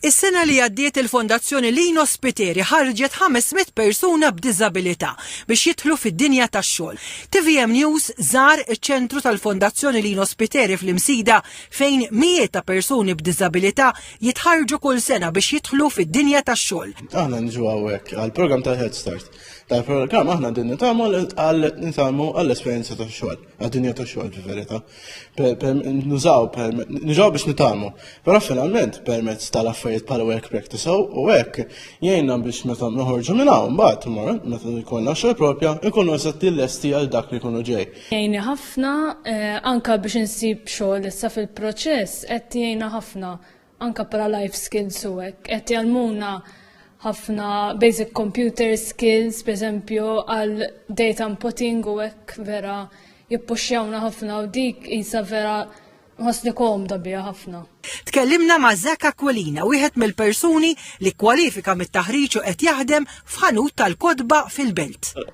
Is-sena li għaddiet il-Fondazzjoni Lino Spiteri ħarġet 500 persuna b'diżabilità biex jidħlu fid-dinja tax-xogħol. Tvm News żar iċ-ċentru tal-Fondazzjoni Lino Spiteri fl-Imsida fejn mijiet ta' persuni b'diżabilità jitħarrġu kull sena biex jidħlu fid-dinja tax-xogħol. Aħna niġu hawnhekk għall-programm tal-Head Start. Tal-programm aħna din nitagħmlu għal nitalmu għall-esperjenza tax-xogħol. għad-dinja ta' xogħol fil-verità. Nużaw, nużaw biex nitalmu. Però finalment permezz tal-affarijiet bħal work practice u hekk jgħinna biex meta noħorġu minn hawn mbagħad imma meta jkollna xogħol propja nkunu eżatti lesti għal dak li jkunu ġej. Jgħinni ħafna eh, anka biex insib xogħol issa fil-proċess qed jgħinna ħafna anka para life skills u hekk. Qed jgħalmuna ħafna basic computer skills, per esempio, għal data inputting u hekk vera jippuxjawna ħafna u dik isa vera ħosni komda bija ħafna. Tkellimna ma' Zak Aquilina, wieħed mill-persuni li kwalifika mit-taħriġ u qed jaħdem f'ħanut tal-kodba fil-Belt.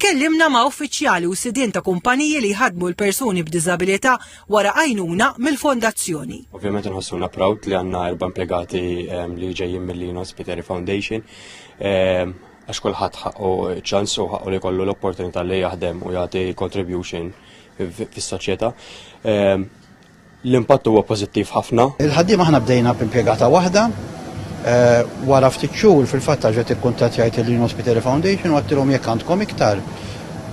Tkellimna ma' uffiċjali u sidien ta' kumpaniji li jħaddmu l-persuni b'diżabilità wara għajnuna mill-Fondazzjoni. Ovvjament inħossuna proud li għandna erba' impjegati li ġejjin mill-Lino Spiteri Foundation għax kulħadd ħaqqu ċans u ħaqqu li kollu l-opportunità li jaħdem u jagħti contribution fis-soċjetà. L-impatt huwa pożittiv ħafna. Il-ħaddiema aħna bdejna b'impjegata waħda. Wara ftit xhur fil-fatt tarġa' tikkuntattjajt il-Green Hospital Foundation u għadtilhom jekk għandkom iktar.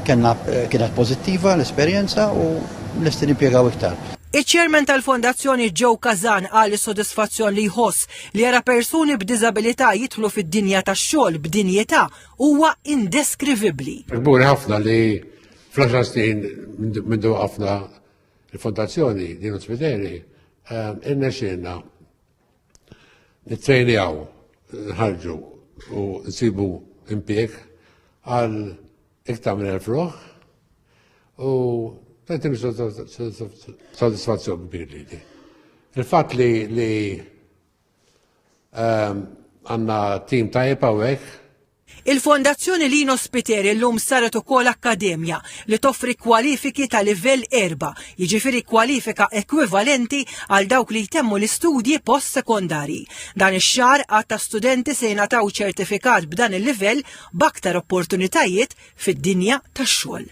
Kellna kienet pożittiva l-esperjenza u lesti nimpjegaw iktar. Iċ-Chairman tal-Fondazzjoni Joe Kazan qal is-sodisfazzjon li jħoss li jara persuni b'diżabilità jidħlu fid-dinja tax-xogħol b'dinjità huwa indeskrivibbli. Kburi ħafna li fl-għaxar snin mindu waqqafna Il-Fondazzjoni Dino Spiteri ehm, irnexxilna nittrejnjaw nħarġu u nsibu impjeg għal iktar minn elf ruħ u tanti soddisfazzjon kbir li di. Il-fatt li li ehm, għanna tim tajjeb hawnhekk Il-Fondazzjoni Lino Spiteri llum saret ukoll akkademja li toffri kwalifiki ta' livell erba', jiġifieri kwalifika ekwivalenti għal dawk li jtemmu l-istudji post-sekondarji. Dan ix-xahar għadd ta' studenti se jingħataw ċertifikat b'dan il-livell b'aktar opportunitajiet fid-dinja tax-xogħol.